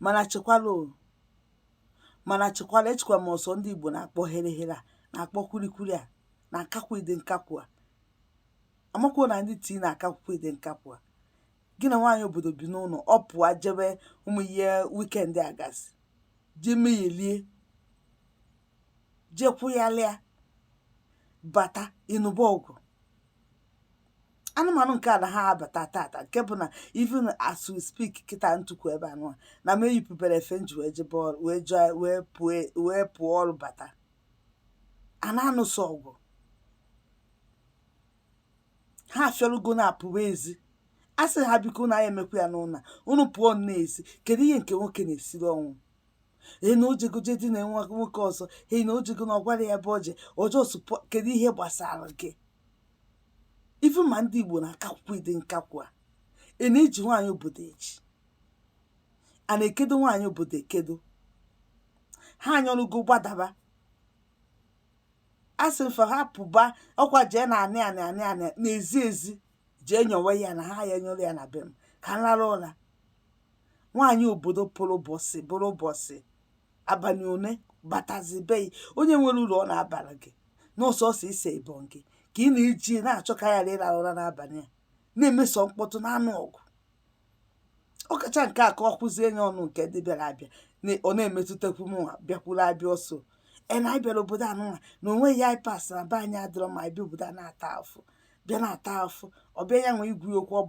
mana chekwala o mana chekwala echekwa m ọ sọ ndị Igbo na-akpọ herehere a na-akpọ kwilikwili a na-akakwu ịdị nkakwụ a amakwuo na ndị tii na-akakwukwa ịdị nkakwụ a gị na nwaanyị obodo bi n'ụlọ ọ pụọ jebe ụmụ ihe weekend a gasị jee meyelie jee kwụghalịa bata ị nụba ọgụ anụmanụ nke a na ha abata tata nke bụ na even as we speak kịta m tukwu ebe a nụa na m eyipụberọ efe m ji wee pụọ ọrụ bata a na-anụso ọgụ ha afịọrụgo na-apụwa ezi a sị ha biko na ya emekwa ya n'ụlọ unu pụọ n'ezi kedu ihe nke nwoke na-esiri ọnwụ ee na o jego jee dina nwoke ọzọ ee na o jego na ọ gwarọ ya ebe o je kedu ihe gbasara gị even ma ndị igbo na-akakwukwa ịdị nkakwụ a na-eji nwaanyị obodo eji a na-ekedo nwaanyị obodo ekedo ha anyọrụgo gbadaba a sị mfe ha pụba ọkwa jee na anị n'ezi ezi jee nyowe ya na ha ya nyọrọ ya na be m ka m lara ụra nwaanyị obodo pụrụ ụbọchị abalị one batazi be onye nwere ụlọ ọ na-abara gị n'ọsọsọ ise even gị ka ị na-eji na-achọ ka ya ịra ụra n'abalị a na-emeso mkpọtụ na-anụ ọgụ ọkacha nke a ka ọ kwụzie nye ọnụ nke ndị bịara abịa ọ na-emetụtakwu mụnwa bịakwuru abịa ọ sọ na anyị bịara obodo a nụnwa na onweghị anyị pass na be anyị adịrọ ma anyị bịa obodo a na-ata afụ bịa na-ata afụ ọ bịa ya nwee ikwu okwu ọ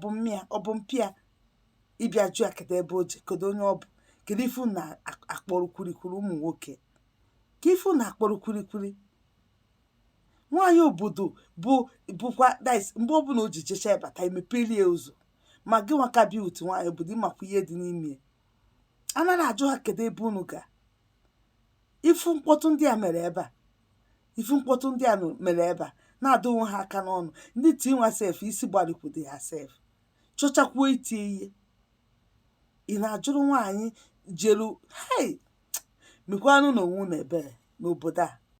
bụ mpịa ị bịa jụ ya kedu ebe o je kedu onye ọ bụ kedu ife unu na-akpọrọ kwurikwuri ụmụ nwoke ka ife unu akpọrọ kwurikwuri nwaanyị obodo bụkwa dis mgbe ọbụla o ji jecha bata e mepeli ya ụzọ ma gịnwa ka bịa otu nwaanyị obodo ị makwa ihe dị n'ime ya anaghị ajụ ha kedu ebe unu ga ị fụ mkpọtụ ndị a mere ebe a na-adụ onwe ha aka n'ọnụ ndị tii nwa sef isi gbarikwudo ha sef chọchakwuo iti ihe ị na-ajụrụ nwaanyị jelu hei mekwanụnụ onwe unu ebere n'obodo a